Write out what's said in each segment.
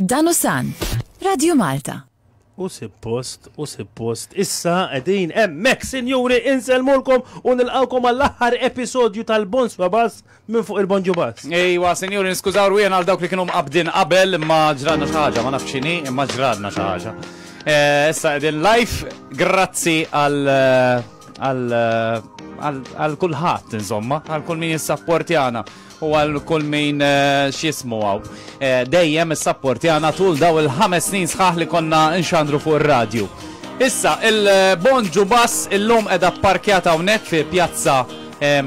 Dan hu San, Radio Malta. U sippost, u sippost, issa qegħdin hemmhekk, sinjuri, insellmulkom u nilqgħukom għall-aħħar episodju tal-Bonswa Bass minn fuq il-Bonġu Bass. Ejwa, sinjuri, niskużaw rwien għal dawk li kienu mqabdin qabel imma ġradna xi ħaġa, ma nafx x'inhi, imma ġradna xi ħaġa. Eh, issa qegħdin live, grazzi għal eh, għal eh, għal kulħadd insomma, għal kull min jissapportjana. u għal kull min eh, xismu għaw. Eh, dejjem is-sapport jgħana tul daw il-ħames snin sħaħ li konna nxandru fuq ir-radju. Issa, il-bon ġubas il-lum edha parkjata unek fi pjazza eh,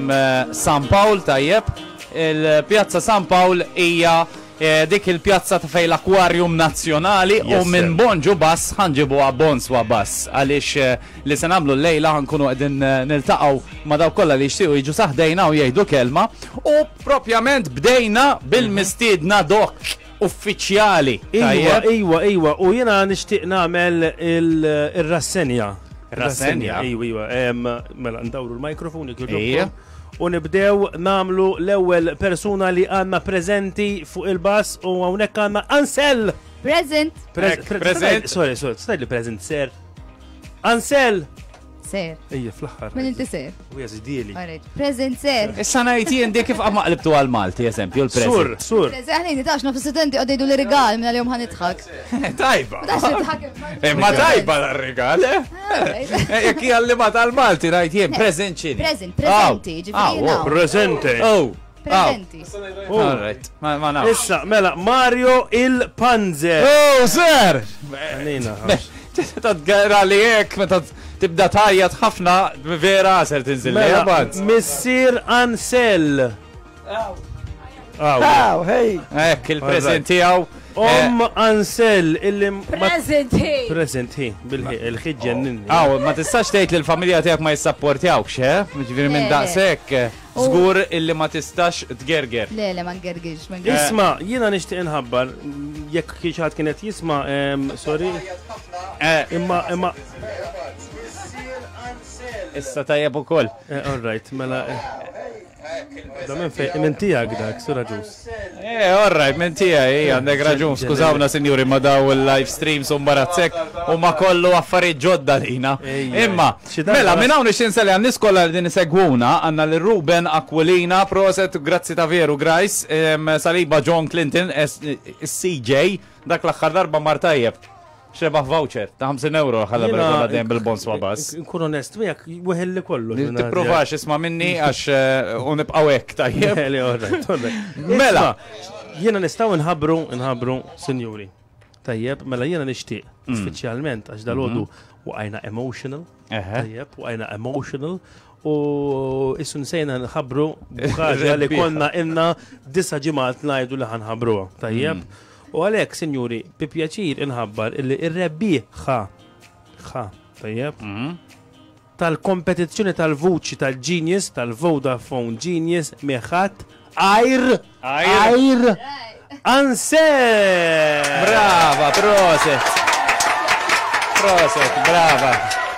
San Pawl tajjeb. Il-pjazza San Pawl hija Dik il-pjazza ta' fejn l-Aquarium Nazzjonali u minn Bon Ġu Bass ħa nġibuha Bonswa Bass għaliex li se nagħmlu llejla ħa nkunu qegħdin niltaqgħu ma' dawk kollha li jixtiequ jiġu sa ħdejna u jgħidu kelma u propjament bdejna bil-mistiedna dok uffiċjali. Ejwa, ejwa, ejwa, u jiena nixtieq nagħmel ir-rassenja. Rassenja. Ejwa, ejwa, mela ndawru l-mikrofon jekk jogħġobkom. U nibdew nagħmlu l-ewwel persuna li għandna preżenti fuq il-bass u hawnhekk għandna Ansel! Present! Present! Sorry, sorry, stajt li present, ser. Ansel! Ser. Ejja, fl-axħar. Min inti ser? U jazidili. Present ser. Issa najti jien dik kif għamaqlibtu għal-Malti, eżempju, l-present. Sur, sur. Eżaħni, nitax nofs studenti għaddejdu l-rigal minna li jom ħanitħak. Tajba. Imma eh, tajba l-regal, eh? eh? Jek jgħalli ma tal-Malti, rajt jien, present ċini. Present, presenti, ġifiri. Oh, presente. Oh. Presenti. Oh. All right, ma nafx. Issa, mela, Mario il-Panzer. Oh, sir! Għanina. Tad għara li jek, meta tibda tajjat ħafna, vera għasel tinżil. Mela, Missir Ansel. Aw, hej! Ek, il-prezent tijaw. Om eh, Ansel, illi. Present hi. Present hi, bil-ħid ġennin. Aw, ma tistax tgħid li l-familja tiegħek ma jissapportjawk, xe? Eh? Ġifieri minn daqshekk. Eh, Zgur illi ma tistax tgerger. Le, le, ma ngergirx. Isma, jiena nixtieq inħabbar, jekk kiex kienet jisma, sorry. Imma, imma. Issa tajjeb ukoll. All right, mela. Da minn fej, minn tijak dak, Sur Agius. Eh, all right, minn tijaj, għandek raġun, skużawna sinjuri ma daw il-live streams u mbarazzek u ma kollu affarijiet ġodda lina. Imma, mela, minn hawn ix-xinsa li għannis kollha din segwuna, għanna li Ruben Aquilina, proset, grazzi ta' veru, grajs, saliba John Clinton, CJ, dak l-axħar darba martajjeb. Xebaħ voucher ta' 50 euro ħalla bil-kolla dejjem bil-bons ma' bas. Nkun onest miegħek, weħel li kollu. Tipprovax isma' minni għax eh, u nibqgħu hekk tajjeb. Mela, jiena nistgħu nħabbru, nħabbru, sinjuri. Tajjeb, mela jiena nixtieq, mm. speċjalment għax dal-għodu mhm. waqajna emotional. Tajjeb, waqajna emotional u issu nsejna nħabru bħagġa li konna inna disa ġimgħat ngħidu li ħanħabruha. Tajjeb. Mm. U għalhekk, sinjuri, bi pjaċir inħabbar illi r-rebbieħa, ħa, tajjeb, tal-kompetizzjoni tal-vuċi tal-Genius, tal-Vodafone Genius, miħat, għajr, għajr, anse! Brava, proset! Proset, brava!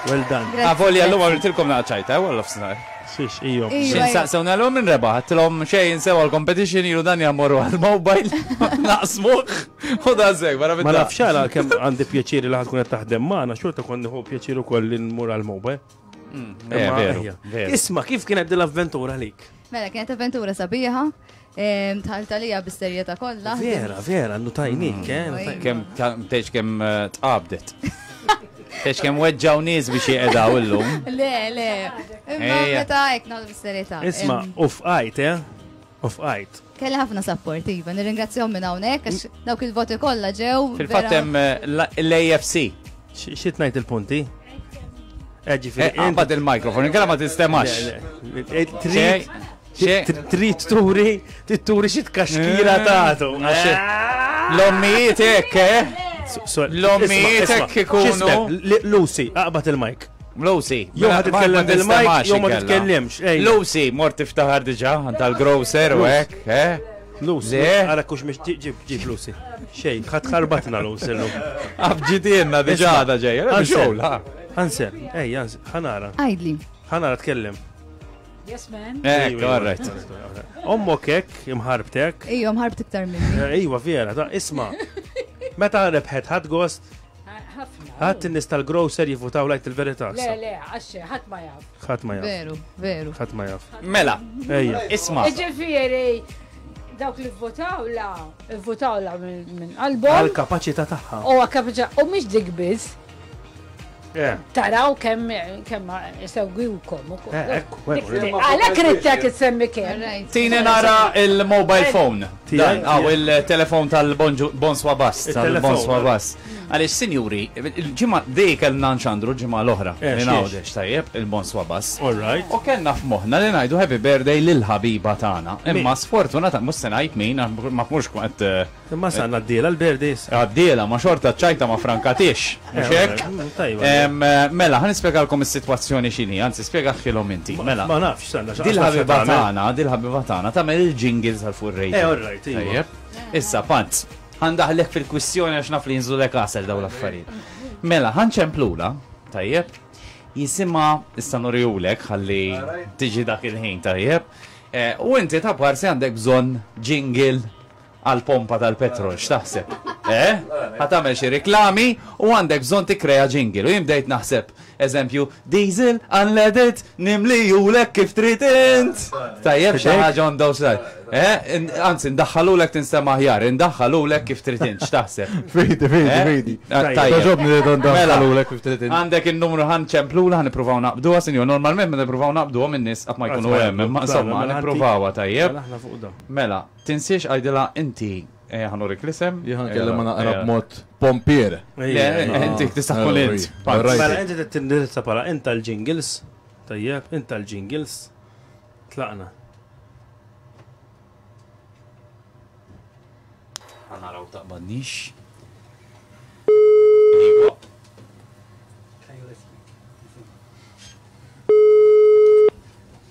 Well done. Għavolja l-lum għamiltilkom naċajta, għallof snar. Xiex, ijom. Xin saqsew nagħlu minn rebaħ, għattilom xej jinsew għal-competition ilu dan jammoru għal-mobile, naqsmuħ, u da zek, barra minn. Ma nafx għala kem għandi pjaċiri li ħatkun taħdem maħna, xorta konni hu pjaċiru koll li nmur għal-mobile. Mm, eh, Isma, kif kienet dil-avventura lik? Mela, kienet avventura sabiħa, Tħalt għalija bis-serjetà kollha. Vera, vera, notajnik, mm. eh? Kem, tgħidx kem eh, tqabdet. Tgħidx kem weġġaw nies biex jieqedaw illum. Le, le. Imma meta hekk nagħmlu bis-serjetà. Isma' u fqajt, eh? U fqajt. Kelli ħafna support, iva, nirringrazzjahom minn hawnhekk għax mm. dawk il-voti kollha ġew. Fil-fatt hemm eh, l-AFC. Xi tnajt il-punti? Ġifieri. Qabad il-mikrofon, inkella ma tistemax. Trid turi, trid turi xi tkaxkira eh. tagħtu. L-ommijiet hekk, eh? L-ommijiet hekk ikunu. Lucy, aqbad il-mike. Lucy, jew ħad titkellem bil-mike, jew ma titkellimx. Lucy, mort tiftaħar diġà tal-grocer u hekk, eh? Lucy, għara eh? kux miex ġib ġib Lucy. Xej, ħat ħarbatna Lucy l-lum. Abġitienna diġa da ġej, għanxol, ha. Għansen, ej, għansen, ħanara. Għajdli. ħanara tkellem. Yes, man. Eh, all right. Ommok ek, imħarbtek. Ejjo, imħarbt iktar minni. Eh, ejwa, vera, ta' isma. Meta rebħet ħad gost. Ħadd in-nies tal-grocer jivutaw lajt il-verità. Le, le, għaxxe, ħadd ma jaf. Ħadd ma jaf. Veru, veru. Ħadd ma jaf. Mela, ejja. Isma. Ġifieri, dawk li votaw la, votaw la minn qalbhom. Għal-kapaċità tagħha. U għal-kapaċità, u mhix dik biss. Eh. Taraw kemm kemm segwiwkom ukoll. Eh, eh, Għalhekk rittek issemmi kemm. Tini nara il-mobile phone. Dan għaw il-telefon tal-Bonswa Bass, tal-Bonswa Bass. Għaliex sinjuri, il-ġimgħa dej kellna nxandru ġimgħa l-oħra. Ningħawdex tajjeb il-Bonswa Bass. U kellna f'moħħna li ngħidu happy birthday lil ħabiba tagħna. Imma sfortunata mhux se ngħid min ma mhux kont Imma sa ngħaddielha l-Berdi issa. Għaddielha, ma xorta ċ-ċajta ma frankatiex, mhux hekk? Mela, ħa nispjegalkom is-sitwazzjoni x'inhi, anzi spjegaħilhom inti. Mela. Ma nafx, stenna x'għax. Dil-ħabiba tagħna, dil-ħabiba tagħna tagħmel il-jingles għal fuq ir-radio. Eh, all right, tajjeb. Issa, panz, ħandaħlek fil-kwistjoni għax naf li jinżulek għasel dawn l-affarijiet. Mela, ħanċemplula, tajjeb, jisima issa nurjulek ħalli tiġi dak il-ħin tajjeb. Eh, u inti ta' parsi għandek bżonn jingle għall-pompa tal-petrol, x'taħseb? Eh? Ħa tagħmel xi riklami u għandek bżonn tikkrea jingle u jien bdejt naħseb, eżempju, diesel, unleaded, nimlijulek kif trid int! Tajjeb xi ħaġa on those lines. Eh? Anzi, ndaħħalulek tinstema' aħjar, indaħħalulek kif trid int, x'taħseb? Fidi, fidi, fidi. Toġobni li ndaħħalulek kif trid int. Għandek in-numru ħa nċemplula, ħa nippruvaw naqbduha, sinjur, normalment meta nippruvaw naqbduhom in-nies qatt ma jkunu hemm, imma insomma, nippruvawha tajjeb. Mela, Tinsiex għidilha inti eh, ħa nurik l-isem. Jien ħa nkellimha naqra eh, b'mod pompier. Le, inti tista' tkun int. Mela inti trid tindirizza bħala int tal-jingles. Tajjeb, int tal-jingles. Tlaqna. Għanaraw taqbadnix.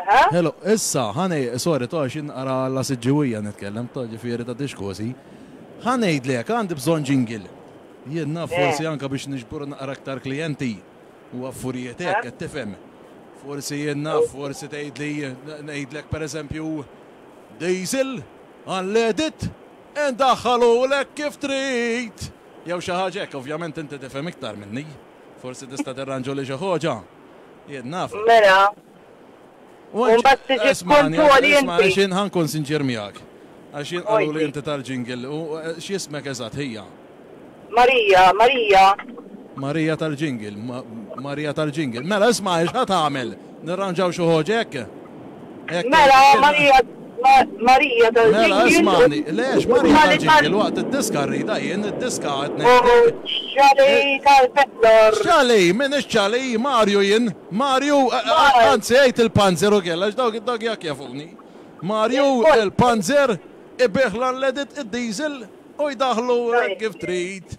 Aha. Hello, issa, ħa ngħi, sorry, to għax inqara la siġġiwija nitkellem, to ġifieri ta' dixkosi. Ħa ngħidlek, għandi bżonn ġingil. Jien naf eh. forsi anka biex niġbur naqra aktar klijenti u affurijiet hekk eh. qed tifhem. Forsi jien naf, oh. forsi tgħidli ngħidlek pereżempju diesel għall-edit indaħħalulek kif trid. Jew xi ħaġa hekk, ovvjament inti tifhem iktar minni. Forsi tista' tirranġuli xi ħoġa? Jien naf. Mela. U mbagħad tiġi tkontwoli inti. Isma' għax jien ħa nkun sinċier miegħek. Għax jien qaluli inti tal-jingle u x'ismek eżatt ħija? Marija, Marija. Marija tal-jingle, Marija tal-jingle. Mela isma' għax ħa tagħmel. Nirranġaw xi ħoġ hekk? Mela, Marija, Marija tal-ġinjil. Mela, ismani, le, x'Marija tal-ġinjil, waqt id-diska rridha jien, id-diska qed ngħidlek. U x-xalej tal-peddor. Xalej, min ix-xalej, Marju jien, Marju, anzi għid il-panzer ukoll għax dawk jak jafuni. Marju, il-panzer, ibigħ l-unleaded, id-diesel u jdaħħlu hekk kif trid.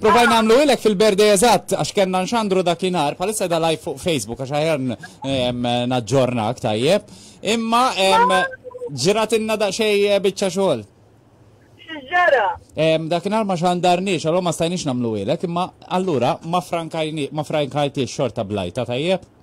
Provajna nagħmlu ilek fil-berde eżatt għax kellna nxandru dakinhar, bħalissa da live fuq Facebook għax aħjar naġġornak tajjeb. Imma ġrat inna daqsxej eh, biċċa xogħol. X'ġara? Dakinhar ma xandarniex, allura ma stajniex nagħmlu ilek, imma allura ma frankajni ma frankajtiex xorta blajta tajjeb.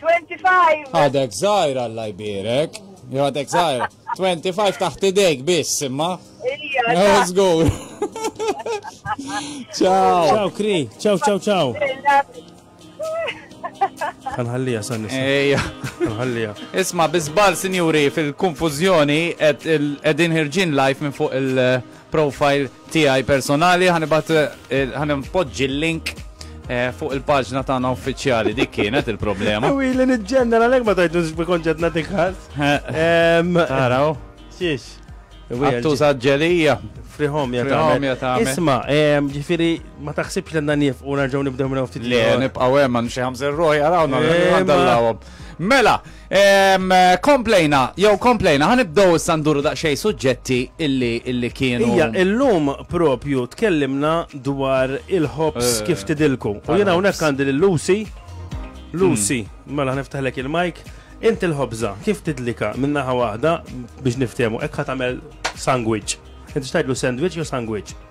25. Għadek zaħir għalla jbirek. Għadek zaħir. 25 taħt idejk biss imma. Ija. Zgur. Ciao. Ciao Kri. Ciao, ciao, ciao. Għanħallija san Ejja. Għanħallija. Isma, bizbal sinjuri fil-konfuzjoni edin ħirġin live minn fuq il- profile tiegħi personali ħa nibgħat eh, ħa npoġġi l-link eh, fuq il-paġna tagħna uffiċjali dik kienet il-problema. U li niġġenna għalhekk ma tajtu x'bi konċett nagħtik ħass. Taraw. Xiex. Għattu saġġelija. Frihom jatamen. Isma, ġifiri, ma taħsibx l-għanna nif u narġaw nibdew minna ftit. Le, nibqaw emman xie ħamzer roħi għarawna, għandallawom. Mela, Ehm, komplejna, jew komplejna, ħanibdow issa nduru daqsxejn suġġetti illi illi kienu. Ija, illum propju tkellimna dwar il-ħobs eh, kif tidilku. U jena unek għandi l-Lucy. Lucy, hmm. mela ħniftaħlek il-mike. Inti l-ħobza, kif tidlika minnaħa waħda biex niftemu, ekk ħatamel sandwich. Inti xtajdlu sandwich jew sandwich?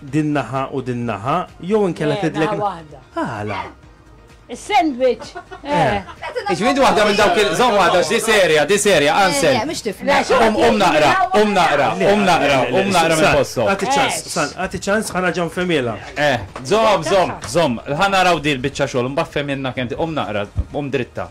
Din naħa u din naħa, jew inkella Le, tidlek. naħa waħda. Għala? Is-sandwich. Eh. Iġmin waħda minn dawk il żomm waħda x'di serja, di serja, Eh, Ansel. le, mhux tifla. Le, xi Um waħda um naqra, jaqra um naqra, waħda. um naqra, um naqra minn postok. Għati ċans, Eh. san, għati ċans ħana ġan femila. Eh, żomm, żomm, żomm. Ħa naraw di l-biċċa xogħol, mbagħad fehmilna kemm ti- um naqra, um dritta.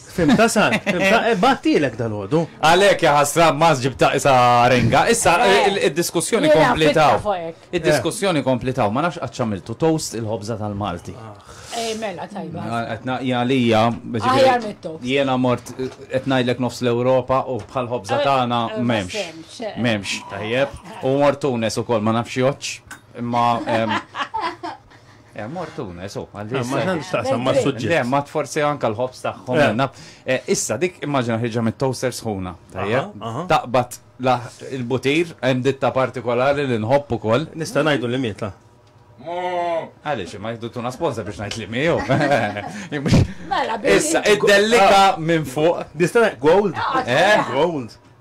Fimtha sant, fimtha, eh, bgħattielek dalgħodu. Għalhekk ja ħasra ma ġibta isa renga. Issa eh, eh, id-diskussjoni Jiena komplitaw. fitna fuq hekk. Id-diskussjoni komplitaw, ma nafx qatt x'għamiltu toast il-ħobża tal-Malti. Eh, mela tajba. Etna jgħalija, Aħjar mit-toast. jiena mort qed ngħidlek nofs l-Ewropa u bħal ħobża Eh, tagħna eh, ma m'hemmx. semmx, eh. M'hemmx, tajjeb. U mort Tunes ukoll ma nafx joċ. Imma em, Eh, mortuna, so, għalli. Ma ħanx taqsam ma suġġi. Le, ma tforsi anka l-ħobs taħħom. Eh. Eh, issa, dik immaġina ħirġa mit toaster sħuna. Taqbat il-butir, hemm ditta partikolari li nħobb ukoll. Nista' ngħidu li mieta. Għalix, ma jiddu tuna sponsa biex najt li miju. Mela, issa, id-dellika ah. minn fuq. Distana, gold. Ah, gold.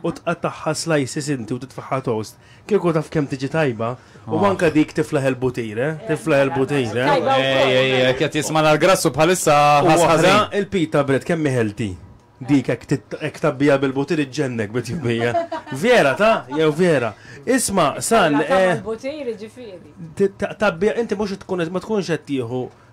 u tqattagħha slices inti u titfagħha toast, kieku taf kemm tiġi tajba, u anke dik tiflaħ il-butir, eh? Tiflaħ il-butir, eh? Ej, ej, ej, qed jisma' l-grassu bħalissa ħasħaża. Il-pita bread kemm ħelti. Dik hekk tabbija bil-butir iġġennek bit-tjubija. Vera ta, jew vera. Isma' san. Butir ġifieri. Tabbija inti mhux tkun ma tkunx qed tieħu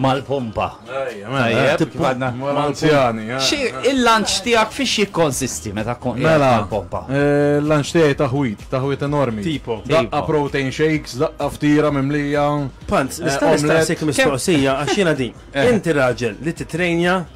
Mal-pompa. Mal-anzjani. Il-lanċ tijak fiex jikkonsisti meta kon mela, mal-pompa? Eh, il-lanċ tijaj taħwit, taħwit enormi. Tipo. Daqqa protein shakes, daqqa ftira mimlija. Panz, eh, nistaqsik mistoqsija għaxina din. Eh. Inti raġel li titrejnja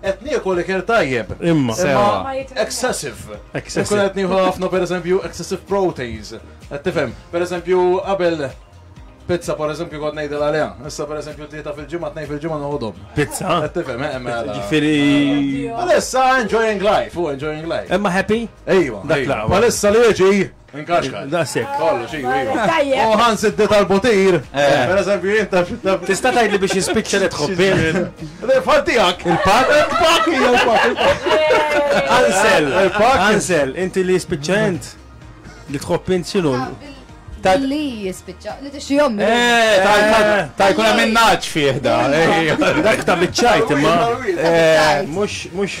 Qed niekol ikel tajjeb. Imma. Imma excessive. Excessive. Inkun qed nieħu ħafna pereżempju excessive proteins. Qed tifhem? Pereżempju qabel pizza pereżempju kont ngħidilha għaliha. Issa pereżempju tlieta fil-ġimgħa, tnejn fil-ġimgħa noħodhom. Pizza? Qed tifhem, eh, mela. Ġifieri. Palissa enjoying life, u enjoying life. Imma happy? Ejwa, Dak ejwa. l-aqwa. Palissa li jiġi Inkaxkar. Dasek. Kollu, xi, iva. U ħans id tal-botir. Eh. Per eżempju, jien taf. Tista' tgħidli biex jispiċċa li tħobbi. Fantijak. Il-pak. Il-pak, il-pak. Ansel. Il-pak. Ansel, inti li jispiċċa int. Li tħobb int xinu. Ta' li jispiċċa, li t-xi jommi. Eh, ta' eh. jkun hemm naċ fih da. Dak ta' biċċajt imma. Mux, mux.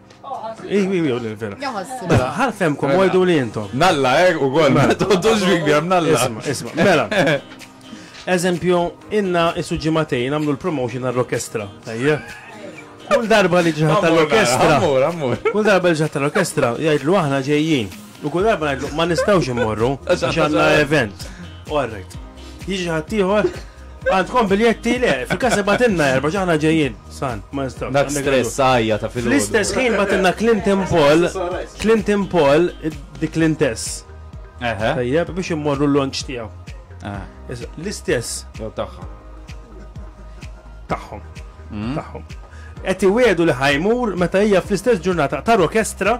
Iwi, iwi, li vera. Mela, ħalfem kum għajdu li jintom. Nalla, er, u għol, mela, tontu ġvik bjam, nalla. Isma, isma, mela. Eżempju, inna isu ġimatejn għamlu l-promotion għall-orkestra. Ejja. Kull darba li ġiħat tal-orkestra. Kull darba li ġiħat tal-orkestra, jgħidlu aħna ġejjin. U kull darba ngħidlu ma nistgħux immorru għax għandna event. U għarrejt. Jiġi ħadd ieħor Għandkom biljetti le, fil-kas batinna erba ġaħna ġejjin, san, ma nistaw. Dak stress għajja ta' fil Fl-istess ħin batinna Clinton Paul, Clinton Paul, di Clintes. Tajjeb, biex immorru l-lonċ tijaw. Ah. L-istess. Taħħom. Taħħom. Mm. Taħħom. Eti wedu li ħajmur meta hija fl-istess ġurnata ta' orkestra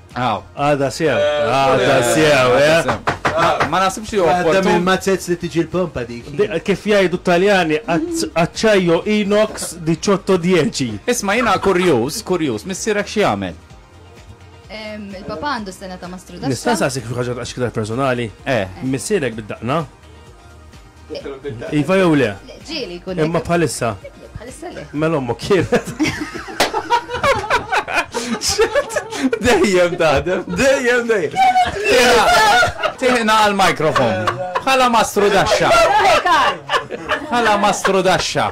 Aw. Għada sew. Għada sew, eh. Ma nasibx li Għadda minn mazzezz li tiġi l-pompa dik. Kif jgħidu Taljani, aċċajjo inox di ċotto dieċi. Isma' jiena kurjuż, kurjuż, missierek xi jagħmel? Il-papa għandu sena ta' mastru da. Nista' saqsik fi ħaġa għax ktar personali. Eh. Missierek bid-daqna. Iva jew le? Ġieli jkun. Imma bħalissa. Bħalissa le. Mela ommu kienet. Dejjem taħdem, dejjem dejjem. Tiħna għal-mikrofon. Bħala mastru daxxa. Bħala mastru daxxa.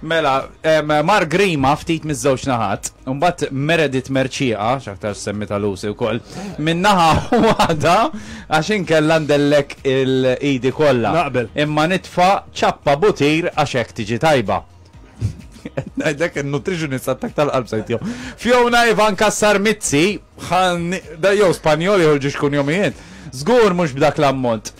Mela, Mark Grima ftit miż-żewġ naħat, mbagħad Meredith Merċieqa, x'aktar semmi ta' Lucy wkoll, min-naħa waħda għax inkella ndellek il-idi kollha. Naqbel. Imma nitfa' ċappa butir għax hekk tiġi tajba. Najdek il-nutritionist għattak tal-qalb sajtjo. Fjona Ivan Kassar Mizzi, da jow Spanjoli uħġiġ kun jomijiet, zgur mux b'dak l-ammont.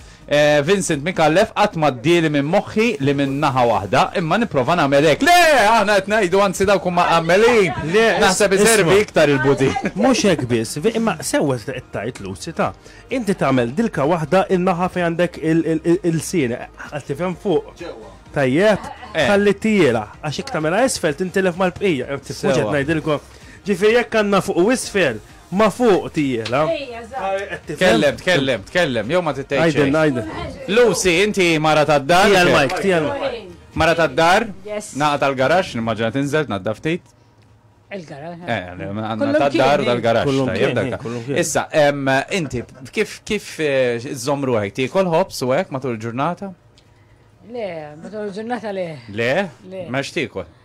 Vincent Micallef, Qatt m'għaddieli minn moħħi li minn naħa waħda, imma nipprova nagħmel hekk. Le! Aħna qed ngħidu, anzi dawk huma mqammlin. Naħseb iservi iktar il-budin. Mhux hekk biss, imma sewwa qed tgħid Lucy, ta'. Inti tagħmel dilka waħda n-naħa fejn għandek il-lsien, qed tifhem fuq. Ġewwa. Tajjeb? Ħalli t-tiela, għax jekk tagħmilha isfel tintilef mal-bqija. Mhux qed ngħidilkom. Ġifieri jekk għandna fuq u isfel. Ma fuq tiela. Tkellem, tkellem, tkellem, jew ma tgħid xejn. Għidilna, għidilna. Lucy, inti mara tad-dar? Tija l-mike, tija l-mike. Mara tad-dar? Yes. Naqa tal-garax, nimmaġina tinżel tnadda ftit. Il-garax. Eh, għandna tad-dar dal-garax. Kullum kien. Issa, inti kif kif eh, żomm ruħek tiekol ħobs u hekk matul il-ġurnata? Le, matul il-ġurnata le. Le? Le. Mex tiekol.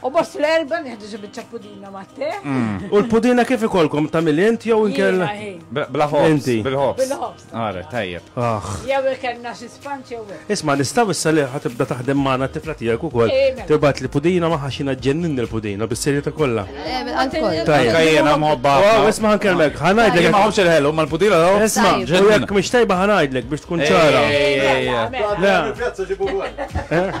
U bost l-erba nieħdu xi biċċa pudina ma' te. Mm. U l-pudina kif ikolkom ta' milent jew inkella? Bla ħobs. Bil-ħobs. Bil-ħobs. Ara, tajjeb. Ah. Jew ikelna xi spanċ jew. Isma' nistgħu issa li ħatibda taħdem magħna t-tifla tiegħek ukoll. Eh, mela. Tibgħat li pudina ma ħaxina ġennin il-pudina bis-serjetà kollha. Eh, Tajjeb. Tajjeb. Jiena mħobba. Oh, isma' ħankellmek, ħanajdlek. Ma ħobx il-ħelu mal-pudina daw. Isma', jekk mhix tajba ħanajdlek biex tkun ċara. Eh, eh, eh,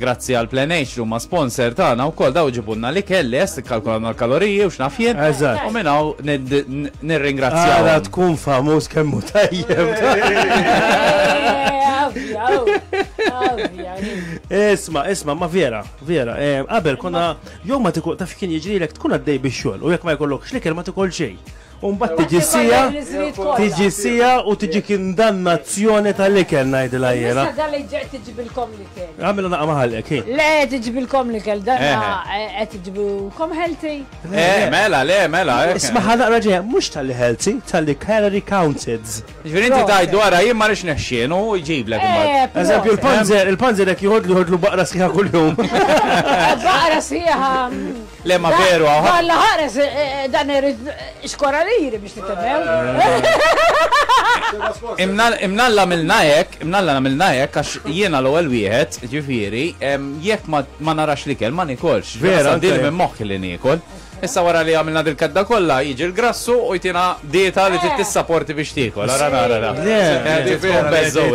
Grazzi għal Plenage li huma sponsor tagħna wkoll daw ġibulna l-ikel lest, ikkalkulawna l-kaloriji u x'naf jien. Eżatt. U minn hawn nid- n- nirringrazzjawhom. Ara tkun famuż kemm hu tajjeb. Isma, isma, ma vera, vera. eh, Qabel konna jew ma tikol taf kien jiġrilek tkun għaddej bix-xogħol u jekk ma jkollokx l-ikel ma tikol xejn. U mbagħad tiġi sija, tiġi sija u tiġi kindannazzjoni tal-ikel ngħidilha jiena. Issa dan li ġej tiġibilkom l-ikel. Għamilha naqa' maħallek. Le tiġibilkom l-ikel dan eh. eh, qed tiġibilkom healthy. Eh, eh mela, le mela. Isma' ħa naqra ġej, mhux tal-li healthy, tal-li calorie counted. Ġifieri inti tajt dwar jien ma rix neħxien u jġiblek imbagħad. Eżempju l-panzer, il-panzer jekk jħodlu jħodlu baqra sħiħa kuljum. Baqra sħiħa. Le ma veru hawn ħadd. Alla ħares dan irid xkoraliri biex titemmew. Imnalla għamilna hekk, imnalla nagħmilna hekk għax jiena l-ewwel wieħed, ġifieri, jekk ma narax l-ikel ma niekolx. Vera, din minn moħħi li niekol. Issa wara li għamilna dil-kedda kollha jiġi l-grassu u jtina dieta li trid tissaporti biex tiekol. Ara nara.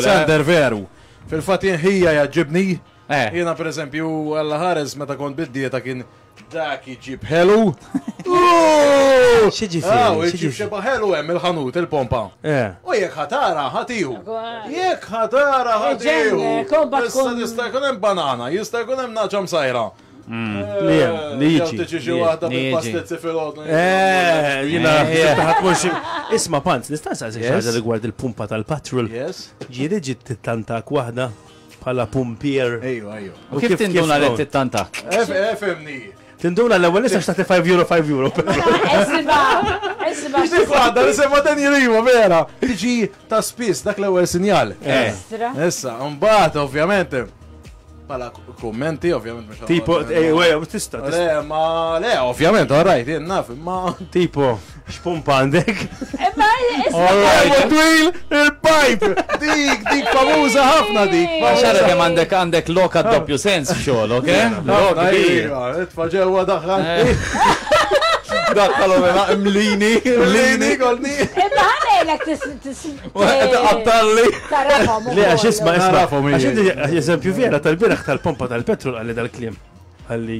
Sander veru. Fil-fatt ħija jaġġibni Eh. Jiena per eżempju, Alla ħares meta kont bid-dieta kien dak iġib ħelu. Xieġi fi? Aw, iġib xeba ħelu hemm il-ħanut, il-pompa. Eh. U jekk ħatara ħatiju. Jekk ħatara ħatiju. Issa tista' jkun hemm banana, jista' jkun hemm naġa msajra. Mm. Eh, li jem, li jiġi. Tiġi xi waħda bil-pastezzi fil-ħodna. Eh, jina, ħatmux. Isma' pant, nista' saqsi xi ħaġa rigward il-pumpa tal-patrol. Yes. Ġieli ġiet tittantak waħda. Bħala pumpier. Ejwa, ejwa. U kif tinduna li tittantak? Efemni. Tinduna l-ewwel nisa xtaqti 5 euro 5 euro. Esba, esba. Xi għadda li semma dan jirima vera. Tiġi ta' spiss dak l-ewwel sinjal. Eh. Estra. Issa, mbagħad ovvjament pala kummenti, ovvjament. Tipo, eh, tista, tista. Le, ma, le, ovvjament, all right, naf, ma. Tipo. X'pumpa għandek? Imma Għalwa twil il-pajp! Dik, dik famuża ħafna dik. Xara kemm għandek għandek loka doppju sens f'xogħol, ok? Lok kbir. Tfa' ġewwa daħħal. Daħħalhom hela mlini, mlini kolni. Imma ħanejlek tisqattalli. Tarafhom. Le għax isma' isma' għax eżempju vera tal-biraħ tal-pompa tal-petrol għalli dal-kliem. Għalli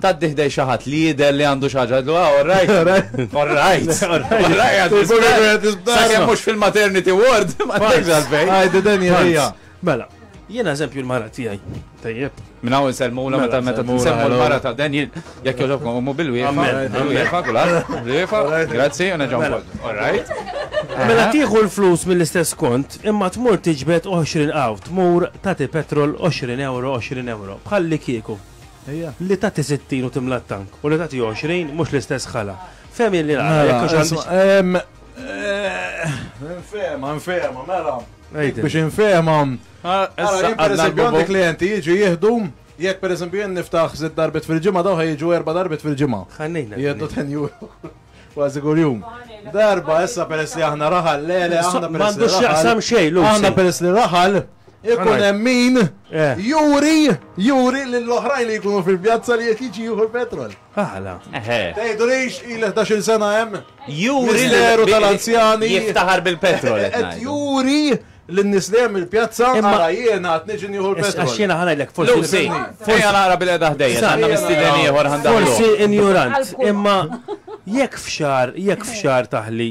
Tgħaddi ħdej xi ħadd li jidher li għandu xi ħaġa tgħidlu ah all right. All right. All right. All right. Immur lura qed nisbda. Sakemm mhux fil-maternity ward. Ma tgħidx għalfejn. Għajdi dan hija. Mela, jiena eżempju l-mara tiegħi. Tajjeb. Minn hawn insellmula meta meta nsemmu l-mara ta' Daniel, jekk joġobkom immu bil-wiefa, bil-wiefa kulħadd, bil-wiefa, grazzi, u neġgħu wkoll. All right. Mela tieħu l-flus mill-istess kont, imma tmur tiġbed 20 qaw, tmur tagħti petrol 20 euro, 20 euro, bħalli kieku. Li tagħti 60 u timla t-tank u li tagħti 20 mhux l-istess ħala. Fem li nagħmel. Nfema, nfema, mela. Biex nfema. Issa għandna klienti jiġu jieħdu Jekk per eżempju jien niftaħ żid darbit fil-ġimgħa daw ħajġu erba' darbit fil-ġimgħa. Ħannejna. Jeddu ten juru. Kważi kull jum. Darba issa peress li aħna raħal, le le aħna peress. M'għandux x'jaqsam xejn, Aħna peress li raħal, Ikun hemm min eh. juri, juri lill-oħrajn li jkunu fil-pjazza li qed jiġi jieħu l-petrol. Għala. Tgħidulix il 11 sena hemm. Juri l-eru tal-anzjani. Jiftaħar bil-petrol. Qed juri l-nis li hemm il-pjazza għara jiena għat niġi nieħu l-petrol. Għax jiena ħana l-ek forsi. Forsi għana għara bil-edha ħdejja, għanna mistiden ieħor ħandar. Forsi injurant, imma jekk fxar, jekk fxar taħli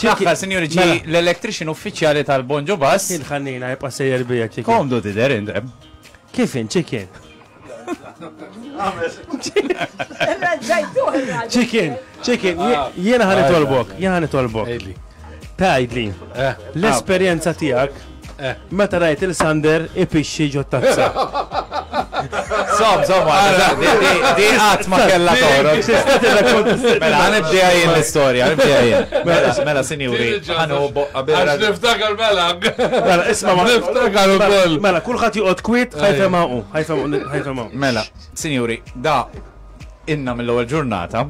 Fl-aħħar, sinjuri, ġie Mela. l-electrician uffiċjali tal-Bonġo Bus. Kien ħannina jibqa' sejjer bija ċikin. Komdu tidher int, eh? Kif int ċikin? Ċikin, ċikin, jie- jiena ħa nitolbok, jiena ħa nitolbok. Tgħidli, Eh, l-esperjenza tiegħek Meta rajt il Sander ipixxi ġo tazza. Som, som, di qatt ma kellha torok. Mela, ħanibdija jien l-istorja, ħanibdija jien. Mela, mela sinjuri, ħanu boqqa bera. Niftakar mela. Mela, isma' ma niftakar ukoll. Mela, kulħadd joqgħod kwit, ħajfhem hawn, ħajfhem hawn. Mela, sinjuri, da inna mill-ewwel ġurnata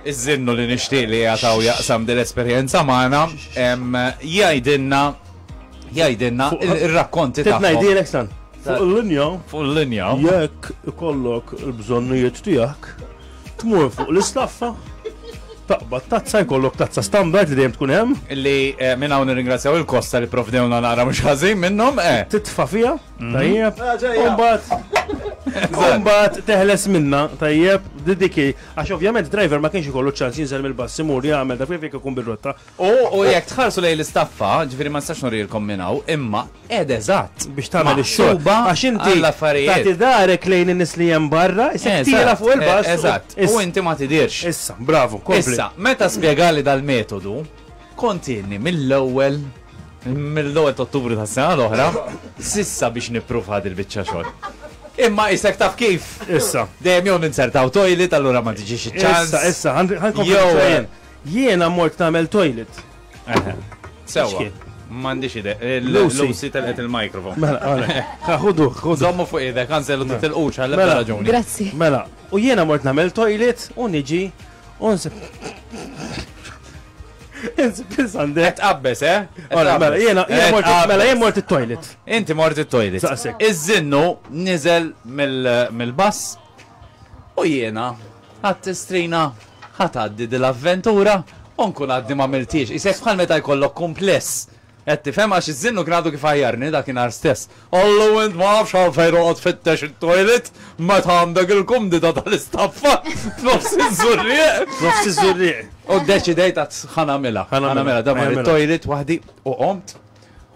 iż-żinnu li nixtieq li qiegħed hawn jaqsam din l-esperjenza magħna, jgħidilna jgħidilna ir-rakkonti tagħhom. Ngħidilek stan. Fuq il-linja. Fuq il-linja. Jekk ikollok il-bżonnijiet tiegħek, tmur fuq l-istaffa taqbad tazza jkollok tazza standard li dejjem tkun hemm. Li eh, minn hawn nirringrazzjaw il-Kosta li provdewna nara mhux ħażin minnhom. Eh. Titfa' fiha, mhm. tajjeb. Imbagħad ah, imbagħad teħles minna, tajjeb, didiki Għax ovvjament driver ma kienx ikollu ċ-ċans jinżel mill-bass imur jagħmel dak li jrid ikun bir-rotta. U jekk tħarsu lejn l-istaffa, ġifieri ma nistax nurilkom minn hawn, imma qiegħda eżatt. Biex tagħmel ix-xogħol. Maħsuba għax inti għall-affarijiet. tagħti dahrek lejn in-nies li hemm barra, isek tiela' fuq il-bass. Eżatt, u inti ma tidhirx. Issa, bravu, kompli. Issa, meta spjegali dal-metodu, Kontinji mill-ewwel mill-ewwel ta' Ottubru tas-sena l-oħra s'issa biex nippruvaha dil-biċċa xogħol. Imma isek taf kif? Issa. Dejjem jew ninzertaw toilet allura ma tiġix iċ-ċans. Issa, issa, ħa nkompli nixraq jien. Jiena mort nagħmel toilet. Eħe. Sewwa. M'għandix idea. Lucy telqet il-mikrofon. Mela, għalek. Ħudu, ħudu. Żommu fuq idek, anzi l-titilqux għal-ebda raġuni. Grazzi. Mela, u jiena mort nagħmel toilet u niġi Onse. Inzi, plis għandek. Qed qabbes, eh? Ora, mela, jena, mela, jien mort il-toilet. Inti mort il-toilet. Iż-zinnu nizel mill-bass u jena għat strina ħat għaddi dil-avventura unkun għaddi ma miltiex. Isek bħal meta jkollok kumpless. Qed tifhem għax iż-żinnu kien għadu kif għajjarni dakinhar stess, Allu int ma nafx għalfejn toqgħod tfittex it-toilet meta għandek il-kumdita tal-istaffa f'nofs iż-żurrieq! F'nofs iż-żurrieq! U ddeċidejt għad ħa nagħmilha. Ħa nagħmilha. Daw mar it-toilet waħdi u qomt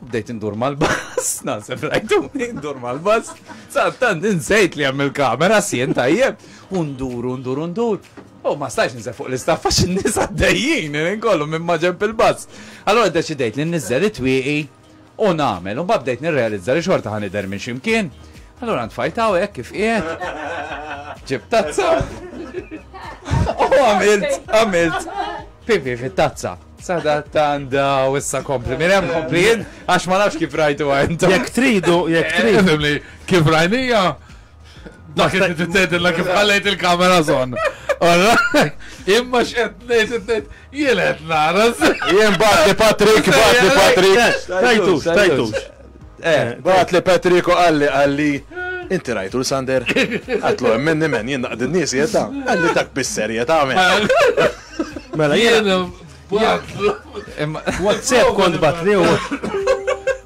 u bdejt indur mal-bass, naħseb rajtuni, indur mal-bass, sa' tant insejt li hemm il-kamera sien tajjeb, u ndur, ndur, ndur, U ma stajtx ninżel fuq l-istaff għax in-nies għaddejjin kollu minn maġenb il-bass. Allura ddeċidejt li nniżżel it-twieqi u nagħmel. Imbagħad bdejt nirrealizza li xorta ħa nidher minn xi mkien. Allura ntfajt hawn hekk kif qiegħed. Ġibt tazza. U għamilt, għamilt. Pipi fit-tazza. Sada tanda u issa kompli. Minn hemm komplin għax ma nafx kif rajtu għajnta. Jekk tridu, jekk tridu. Kif rajnija? Dak li qed tgħidilna kif ħallejt il-kamera żon. Imma x'qed ngħid ngħid jien qed nara. Jien bati Patrick, bati Patrick. Tajtux, tajtux. Eh, bat li Patrick u qalli qalli. Inti rajtu l-Sander? Għatlu, minni men, jien naqdin nies jeta. Għalli dak bis-serjeta men. Mela, jien. WhatsApp kont batni u.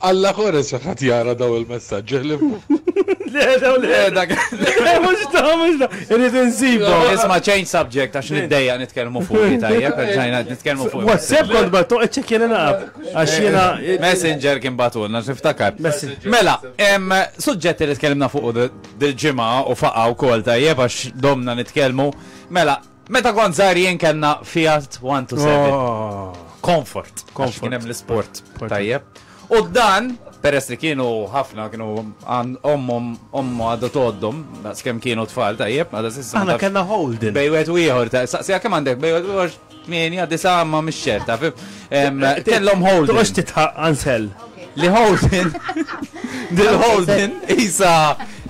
Alla kores jekk ħadd jara dawn il-messaġġi ħlief fuq. Le, dawn le. Le, dak. Le, mhux da, mhux da. Irrid insibu. Isma' change subject għax niddejja nitkellmu fuq li tajjeb, ġajna nitkellmu fuq. WhatsApp kont battu qed ċekkjena naqab. Għax jiena. Messenger kien batulna, niftakar. Mela, hemm suġġetti li tkellimna fuq dil-ġimgħa u faqa' wkoll tajjeb għax domna nitkellmu. Mela, Meta kont żgħir jien kellna Fiat 127. Comfort. Comfort. Kien hemm l-isport. Tajjeb. U dan, peress li kienu ħafna, kienu ommom, ommu għadu toddom, naqs kem kienu tfal, tajjeb, għada s-sissan. Għana kena holding. Bejwet u jħor, saqsija kem għandek, bejwet u jħor, minja, disa, ma mxċerta, fim. Kellhom Holden. Toqgħodx titħaq Ansel. Li Holden. Dil Holden isa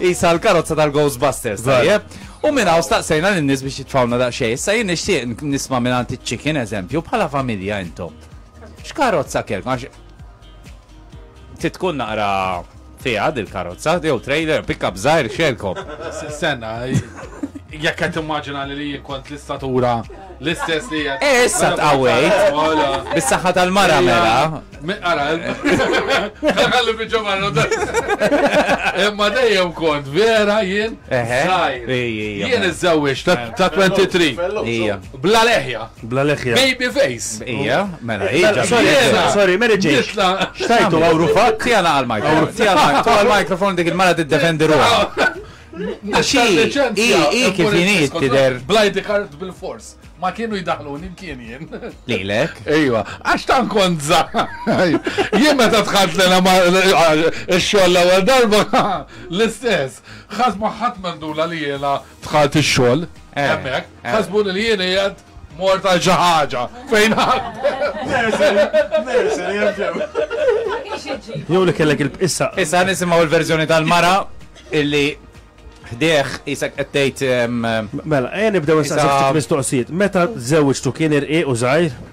isa l-karozza tal-Ghostbusters. Tajjeb. U minn hawn staqsejna lin-nies biex jitfawna daqsxejn. Issa jien nixtieq nisma' minn għand iċ-chicken eżempju bħala familja intom. X'karozza kellkom? Trid tkun naqra fiha dil-karozza, jew trailer, pickup żgħir xelkom. Senna, jekk qed immaġina li jien kont l-istatura l-istess li qed. Eh, issa tqawwejt. Bis-saħħa tal-mara mela. Ara, ħalli biġġa marra Imma dejjem kont vera jien żgħir. Jien iżżewwiex ta' 23. Bla leħja. Bla leħja. Baby face. Ija, mela, ija. Sorry, sorry, Mary Jane. Xtajtu għawru fat? Tija naqal mikrofon. Tija naqal mikrofon dik il-mara t-defendi ruħa. Xi, i, i, kif jinit tider. Blajdi kart bil-fors. Ma kienu jidaħlu nimkien jien. Lilek? Ejwa, għax tan konza. Jien meta tħadd l-ena ma xoll l-ewwel darba l-istess. Ħadd ma ħadd mandula li jena Dħalt ix-xogħol hemmhekk, ħasbuni li jien qiegħed mort għal xi ħaġa fejn Jew li kellek il-issa. Issa nisimgħu l-verżjoni tal-mara illi ħdieħ isek qed tgħid Mela, ejja nibdew issa mistoqsijiet. Meta żewġtu kien irqiq u żgħir?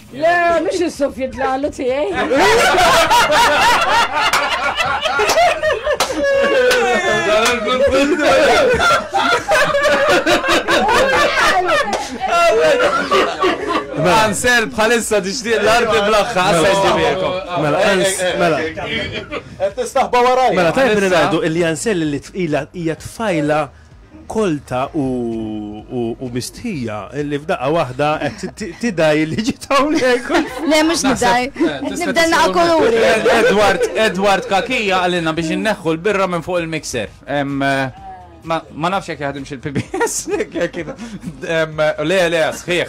Le, mhux is-suffi dlalu tiegħi. Ansel bħalissa tixtieq l-arti bl-aħħa għasajġibiekom. Mela, mela. Qed tistaħba waraj. Mela, tajb li ngħidu li Ansel li tqila hija tfajla Kolta u mistħija li f'daqqa waħda qed tidgħi li ġiet hawnhekk. Le mhux nidgħi. Nibda naqa' kuluri. Edward, Edward Kakija qalilna biex inneħħu l-birra minn fuq il-mixer. Ma nafx jekk jaħdimx il-PBS. Le, le, sħiħ.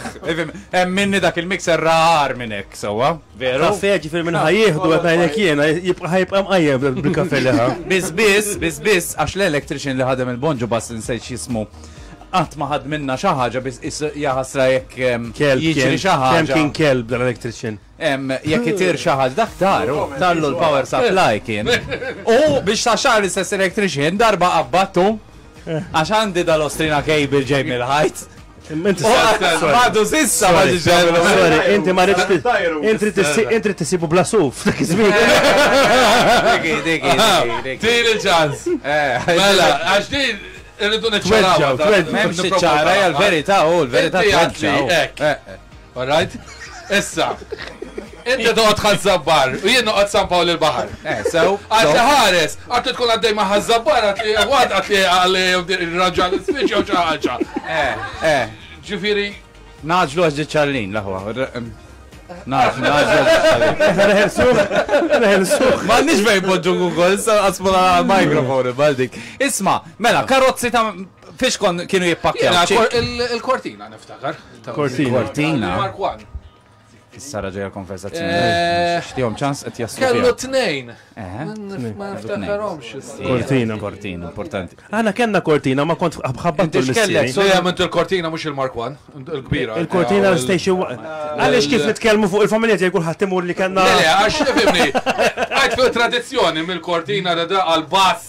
Hemm minni dak il-mixer rar minn hekk, sewwa. Veru? Kafe, ġifir minn ħajjieħdu għet najlek jena, jibqa ħajibqa mqajjem bil-kafe liħa. Bizbiz, bizbiz, għax l-electrician li ħadem il-bonġu bas nsejċ jismu. Għat maħad minna xaħġa biz jaħasra jek jiġri xaħġa. Kem kien kelb dan electrician? Jek jitir xaħġa, dak taru, tallu l-power supply kien. U biex ta' xar l-istess electrician darba qabbattu Għax għandi dal-ostrina kejbil ġej mill-ħajt. Inti Għadu sissa ma Sorry, inti ma rridx inti tisibu bla suf dak iż-żmien. Diki, diki, diki. Tiri ċans. Eh, mela, għax din irridu niċċaraw. Memx iċċara, hija l-verità, u l-verità tweġġa. All right? Issa, inti toqgħod Ħaż-Żabbar u jien noqgħod San Pawl il-Baħar. Eh, sew. Għad li ħares, għad li tkun għaddej ma' Ħaż-Żabbar, għad li għad għad li għal raġġa l-isfiċ jew xi ħaġa. Eh, eh. Ġifieri. Naġlu għax ġiċċallin l-aħwa. Naf, nħelsuħ, nħelsuħ. Ma nix bej podġu Google, issa għasmula mikrofon, baldik. Isma, mela, karozzi ta' fiex kon kienu jippakja. Il-kortina niftakar. Cortina. Cortina. Mark One. Sara ġeja konversazzjoni. Eh, Xtijom ċans qed jaslu. Kellu tnejn. Eh, ma niftakarhomx. Kortina. Kortina, importanti. Għana kellna kortina ma kont ħabbat tul kellek. Sejja minn il-kortina mhux il-Mark One, il-kbira. Il-kortina l-station. Għaliex kif nitkellmu fuq il-familja tiegħi kulħadd imur li kellna. Le, għax fimni. Għajt fil-tradizzjoni mill-kortina da għal-bass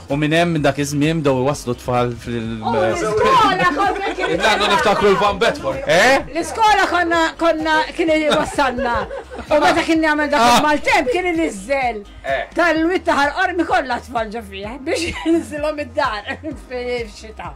U minn hemm, minn dak iż-żmien, bdew iwasslu t-tfal fil. U l-iskola konna kien. Intantu niftakru l-Van Bedford. Eh? L-iskola konna konna kien iwassalna. U meta kien jagħmel dak ah. il-maltemp kien iniżżel. Eh. Tal-witta ħarqormi kollha tfal ġo fih biex jinżilhom id-dar fil-xita.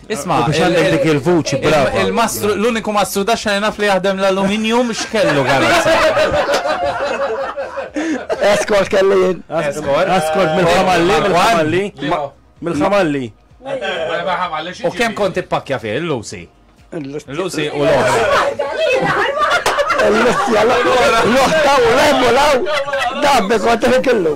Isma', U biex għandek dik il-vuċi brava. il-mastru, l-uniku mastru ta' xena naf li jaħdem l-aluminium x'kellu karozza. Escort kelli jien. Escort. Escort mill-ħamalli, mill-ħamalli. Mill-ħamalli. U kemm kont ippakja fih il-Lucy? Il-Lucy u l-oħra. L-Lucy, l-oħra u l-emmolaw. Dabbe kont kellu.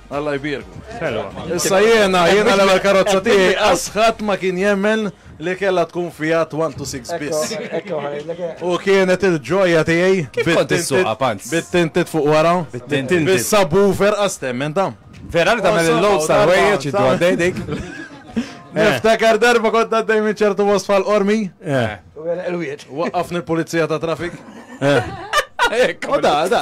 Alla jbierku. Issa jiena, jiena l-ewwel karozza tiegħi qas ħadd ma kien jemmen li kellha tkun Fiat 126 biss. U kienet il-ġoja tiegħi. Kif kont issuqha panz? Bit-tintit fuq wara. Bit-tintit. Bis-subwoofer qas temmen ta'. Vera li tagħmel il-load tal-ħwejjeġ iddu għaddej dik. Niftakar darba kont għaddej minn ċertu was fal-qormi. Waqqafni l-pulizija ta' trafik. U da, da,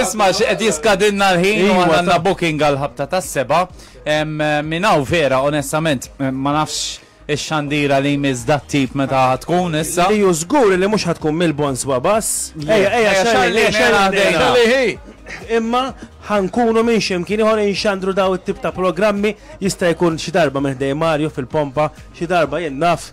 Isma, xed jiskadinna l-ħin u iva, għanna booking għal-ħabta ta' seba. Minaw vera, onestament, ma nafx ix-xandira li jmiss dat tip meta tkun issa. Li jużgur li mhux ħatkun mill-bons babas. Ejja, ejja, xalli, xalli. Imma ħankunu minn ximkien iħor inxandru daw it-tip ta' programmi jista' jkun xi darba minn ħdej Mario fil-pompa, xi darba jien naf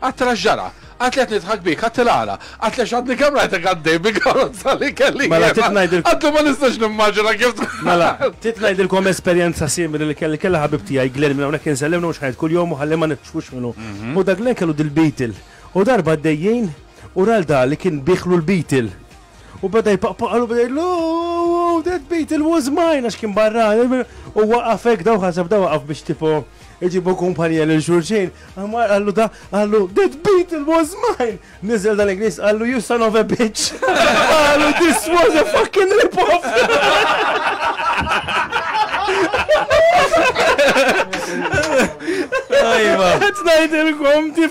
Għattela x'ġara? Għadli qed nidħak bik, għattela għala? Għattela x'għadni kemm rajtek għaddej bil-karozza li kelli jien. Mela trid ngħidilkom. Għattela ma nistax nimmaġina kif dħalt. Mela trid ngħidilkom esperjenza simili li kelli, kellha ħabib tiegħi Glenn minn hawnhekk insellem lilhom xi ħanet kuljum u ħalli ma nitfux minnu. U dak Glenn kellu dil-Beetle. U darba għaddej jien u ra 'l da li kien biegħlu l-Beetle. U bada jpaqpaqalu bada jgħidlu, oh, that beetle was mine, għax kien barra, u waqafek daw ħasab daw waqaf biex tipo iġibu kumpanija l xurxin, għamar għallu da, għallu, that beetle was mine! Nizel dan inglis għallu, you son of a bitch! Għallu, this was a fucking rip-off! Ajma! Għetnajdilkom,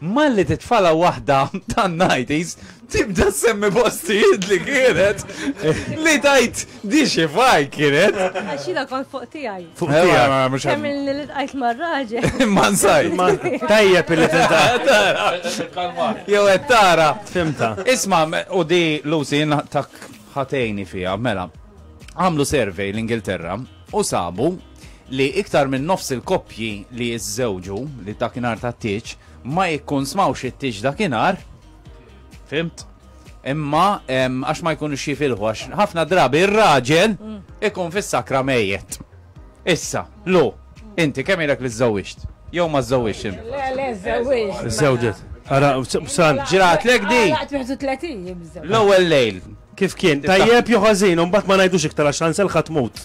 Malli titfala waħda tan-nighties tibda ssemmi postijiet li kienet li tgħid di xi fajl kienet. Għax jiena kont fuq tiegħi. Fuq tiegħi. Kemm li ltqajt mar-raġel. Ma nsaj. Tajjeb li tinta. Jew qed tara. Fimta. Isma' u di Lucy tak ħatejni fiha, mela. Għamlu survey l-Ingilterra u sabu li iktar minn nofs il-koppji li jiżżewġu li dakinhar ta' tiġ ma jkun smawx it-tiġ dakinhar. Fimt? Imma għax ma jkunu xifilħu, għax ħafna drabi ir-raġel mm. ikun fis-sakra mejjet. Issa, lu, inti kemm ilek li żżewġt? Jew ma żżewġt int? Le, le, żżewġt. Żżewġt. Ara, sal. Ġrat lek di. L-ewwel lejl. Kif kien? Tajjeb joħazin, un bat ma najdux iktar għax għansel ħatmut.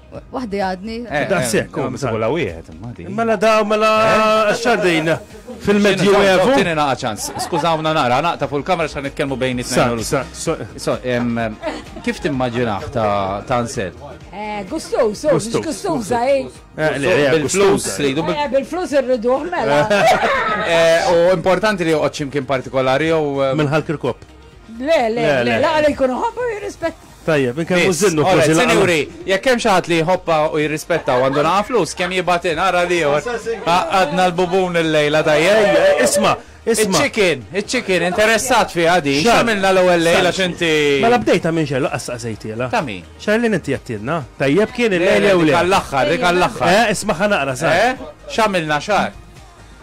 Waħdi għadni. Eh, da' sekk, u msibu la wieħed. Mela da, mela eh? xardin fil-medju evu. Tini naqa ċans, skużawna nara, naqta fuq il-kamera xan nitkellmu bejn it-tnejn. So, kif timmaġinaħ ta' nsel? Eh, gustus, gustus, eh? Bil-flus, rridu. Bil-flus rridu, mela. U importanti li joqgħod ximkien partikolari jew. Mill-ħalk il-kop. Le, le, le, la, le, jkunu ħabba jirrispett. Tajjeb, inkellmu Zinnu forsi Ora, l-aqgħa. sinjuri, jekk hemm xi ħadd li jħobbha u jirrispetta u għandu naqa' flus, kemm jibgħat in, ara l-ieħor. Għaqqadna l-bubun illejla tajjeb. Ejja, isma', isma'. Iċ-chicken, iċ-chicken, interessat fiha din. Xar- X'għamilna l-ewwel lejl għax inti. Mela bdejtha minn xejn laqqas staqsejtielha. Ta' min? Xarlin inti jattilna. Tajjeb kien Le, il-lejl le, jew dik le? għall-aħħar, dik għall-aħħar. Eh, ismagħha naqra sar. Eh? X'għamilna xar?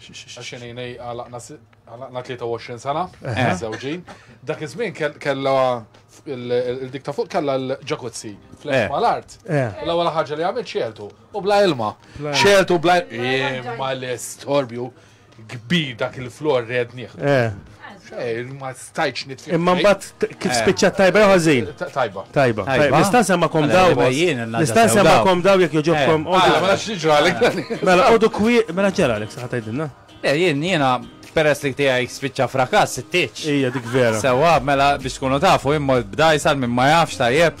Xinini għalaqna 23 sena, zewġin. Dak iż-żmien kella il-dik ta' fuq kella l-ġakuzzi fl-art mal-art. L-ewwel ħaġa li għamilt xieltu u bla ilma. Xieltu bla ilma l-istorbju kbir dak il-flor red nieħdu. Ma stajċ nitfik. Imma mbagħad kif eh. spiċċa tajba jew ħażin? Tajba. Tajba. Nista' nsemmakom daw. Nista' nsemmakom daw jekk joġobkom. Eh. Ah, ma nafx jiġralek. Mela qodu kwi, mela ġralek sa tgħidilna. Eh, jien jiena peress li tiegħi spiċċa frakas it-tieġ. Ija dik vera. Sewa mela biex tkunu tafu imma bdajsal minn ma jafx tajjeb.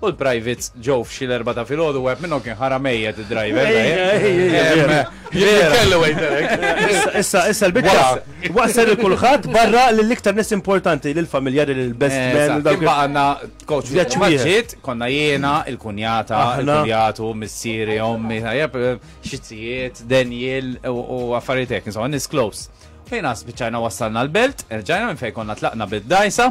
U l-privates ġew f'xi l-erbgħa ta' filgħodu wieħed minnhom kien ħara mejjet id-driver. Issa issa l-biċċa waqsel il kulħadd barra lill-iktar nies importanti lill-familjari lill-best eh, man. Kien baqgħna coach ġiet konna jiena il-kunjata, il-kunjatu, missieri, ommi, xizzijiet, Daniel u affarijiet hekk, insomma, nis close. Fejn għas biċċajna wassalna l-belt, erġajna minn fejn konna tlaqna bid-dajsa.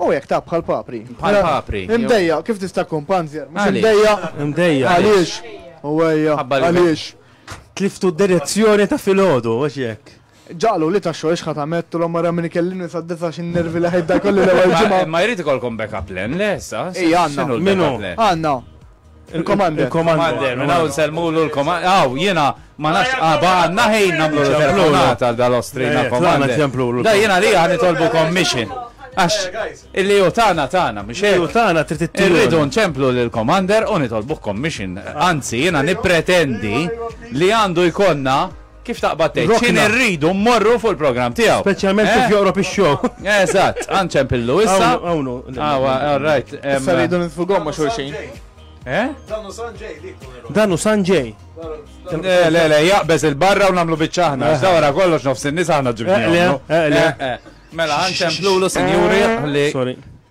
U hekk ta' bħal papri. Bħal papri. Imdejjaq, kif tista' tkun panzer? Mhux imdejjaq? Imdejjaq. Għaliex? U ejja. Għaliex? Tliftu d-direzzjoni ta' filgħodu, mhux hekk? Ġagħlu li ta' xogħol x'ħa tagħmettulhom ara min ikellimni sad-disgħa għax in-nervi li ħejt da kollu l-ewwel ġimgħa. Imma jrid ikollkom backup plan, le sa? Ejja għandna. X'inhu l-backup plan? Għandna. Il-komander. Il-komander. Minn hawn semmulu l-komander. Aw, jiena ma nafx qaba ah, għandna ħin nagħmlu telefonat għal dal-Ostrina eh, komander. Da jiena li għan nitolbu commission. Għax, illi u tana tana, mux illi u tana trid tittilu. Irridu nċemplu l-komander u nitolbu commission. Anzi, jiena nipretendi li għandu jkonna Kif taqbad tgħid? Rokna. X'in irridu mmorru fuq il-programm tiegħu. Speċjalment kif Eh? joqrob ix-show. Eżatt, għanċem pillu issa. Hawn- hawn hu. Awa, all right. em, Issa rridu nitfu gomma xulxin. Eh? Danu Sanġej li jkun Danu Sanġej. Le, le, le, jaqbeż il-barra u namlu biċċaħna. Eh. Dawra kollox nofs in-nies aħna Eqle, ġibni. eqle. Mela, għanċem plulu, sinjuri, li Sorry.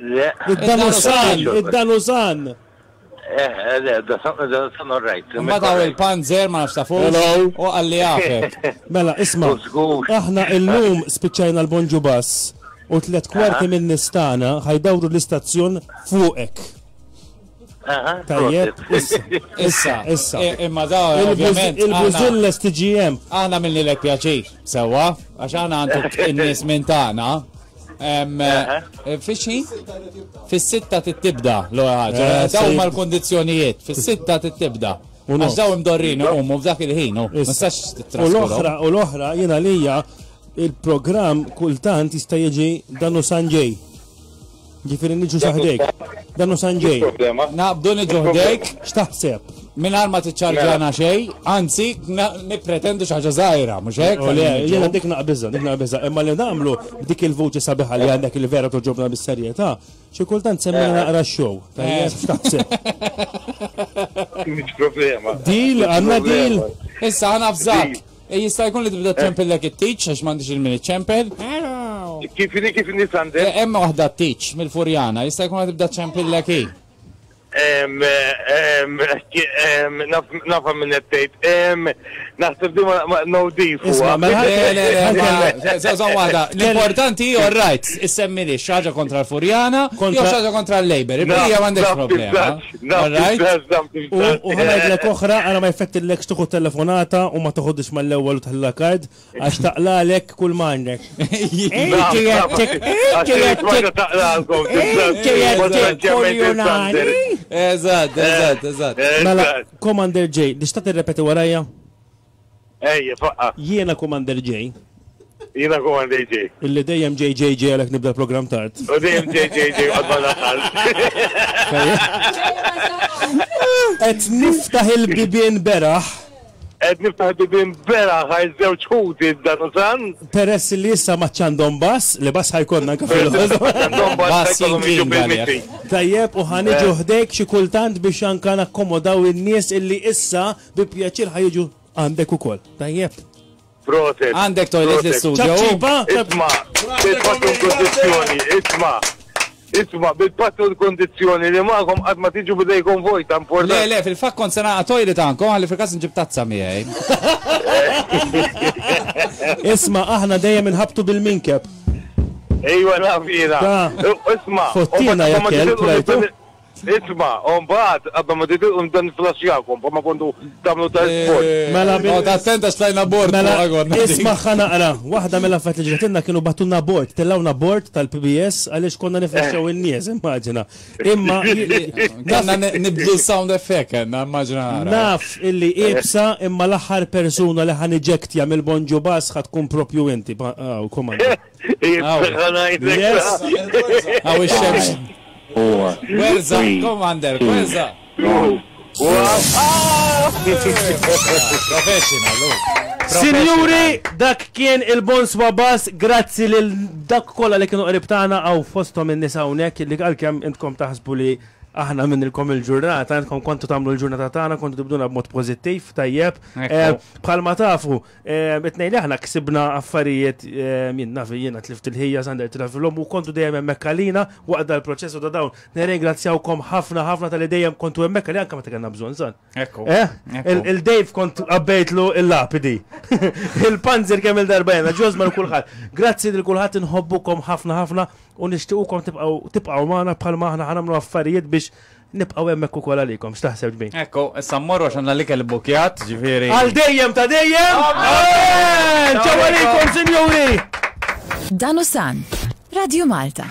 Le. Id-Danusan, id-Danusan. Eh, eh, le, Danusan all right. Ma daw il-panzer ma nafsa fuq. Hello. U għalli għafet. Mela, isma, aħna il-lum spiċċajna l-bonġu bass u tlet kwarti minn nistana ħajdawru l-istazzjon fuqek. Tajjeb, issa, issa, issa. E, imma da, ovvjament. Il-Buzilles TGM. Aħna minni l pjaċir, sewa, għax aħna għandek in-nies minn tagħna. E, Fixi? Fis-sitta tibda l-ora ħaġa. Eh, daw mal kondizjonijiet fis-sitta tibda. Għax daw imdorrin u mu f'dak il-ħin, u U l-oħra, u l-oħra, jena lija, il-program kultant jista' jiġi danu Sanġej. Ġifiri niġu saħdejk. Dan u sanġej. Naqbdu niġu ħdejk. X'taħseb? Minn ma tiċċarġana mela. xej, anzi, nipretendu xaġa zaħira, mux hekk? Oh, Jena dik naqbizza, dik naqbizza. Imma li namlu dik il-vuċi sabiħa li għandek il-vera toġobna bis-serjeta, xie kultant semmina eh. naqra xow. Eh. X'taħseb? Mux problema. Dil, għanna dil. Issa għana fżak. E jista' jkun li tibda ċempillek it-tiċ għax m'għandix il-min iċċempel. Kif li kif li sandel? E, hemm waħda t-tiċ mill-furjana, jista' jkun li tibda ċempillek hi. Nafa minn ettejt, naħseb di ma nodif. Isma, mela, zazan wada, l-importanti ju rajt, issemmili xaġa kontra l-Furjana, jo xaġa kontra l-Labor, il-bija għandek problema. All right? U u ħa ngħidlek oħra, ara ma jfettillekx tieħu telefonata u ma toħodhiex mal-ewwel u tħallilha card għax taqlalek kull ma għandek. Inti qed tik- inti qed tik- taqlalkom. inti qed tikkuljunani. Eżatt, eżatt, eżatt. Mela, Commander J, tista' tirrepeti warajja? Ejja, faqqa'. Jiena Commander J. Jiena Commander J. Illi dejjem ġej ġej ġej għalhekk nibda l-programm tard. U dejjem ġej ġej ġej qatt ma nasal. Qed niftaħ il-bibien beraħ. Qed niftaħ il-bibien beraħ għal żewġ ħuti dan u dan. Peress li issa ma għadx għandhom bass, li bass ħa jkollna anke fil-ħodu. Bass jinkin għalek. Tajjeb u ħa niġu ħdejk xi kultant biex anke nakkomodaw in-nies illi issa Bi pjaċir ħa jiġu għandek ukoll. Tajjeb. Proset. Għandek toilet fl-istudio. Ċabċipa. Isma, bil-pattu l-kondizjoni, isma. Isma, bil-pattu l-kondizjoni li maħkom għad ma tiġu bidejkom vojta importanti. Le, le, fil-fat kont sena toilet għankom, għalli fil-kas nġib tazza miħaj. Isma, aħna dejjem nħabtu bil-minkeb. Ejwa nafina. Isma, fottina jakkel, prajtu. Isma', u mbagħad qabel ma titilqu nibda niflaxxjakom bħalma kontu tagħmlu ta' isfond. Mela bil. Noqgħod attent għax tlajna bord fuqha konna din. Mela ismagħha naqra. Waħda mill-affarijiet li ġratilna kienu bagħtulna bord, tellgħuna bord tal-PBS għaliex konna niflaxxjaw in-nies, immaġina. Imma Kellna nibdlu s-sound effect kellna, immaġina ara. Naf illi iebsa imma l-aħħar persuna li ħa niġektja mill-Bonġu Bass ħa tkun proprju inti. Hawn, komanda. Sinjuri, dak kien il-Bons Babas, grazzi lil dak kollha li kienu qrib tagħna għaw fosthom in-nisa hawnhekk li għalkemm intkom taħsbu li aħna minnilkom il-ġurnata, intkom kontu tagħmlu l-ġurnata tagħna, kontu tibduna b'mod pożittiv, tajjeb. Eh, bħalma tafu, Itnej li aħna ksibna affarijiet jien naf jiena tlift il-ħija sander travilhom u kontu dejjem hemmhekk għalina waqt dal-proċess u ta' dawn. Nirringrazzjawkom ħafna ħafna tal-li dejjem kontu hemmhekk għalina anke meta kellna bżonn san. Ekku. Eh? Il-Dave kont qabbejtlu il-lapidi. Il-panzer kemm il-darba jena, ġożma l-kulħadd. Grazzi lil kulħadd inħobbukom ħafna ħafna u nixtiequkom tibqgħu tibqgħu magħna bħalma aħna ħanamlu affarijiet biex Nibqgħu hemmhekk ukoll għalikom, x'taħseb ġbin? Ekku, issa mmorru għax għandna l-ikel ibbukjat, ġifieri. Għal dejjem ta' dejjem! Amen! Ċaw għalikom, sinjuri! Dan u san, Radio Malta.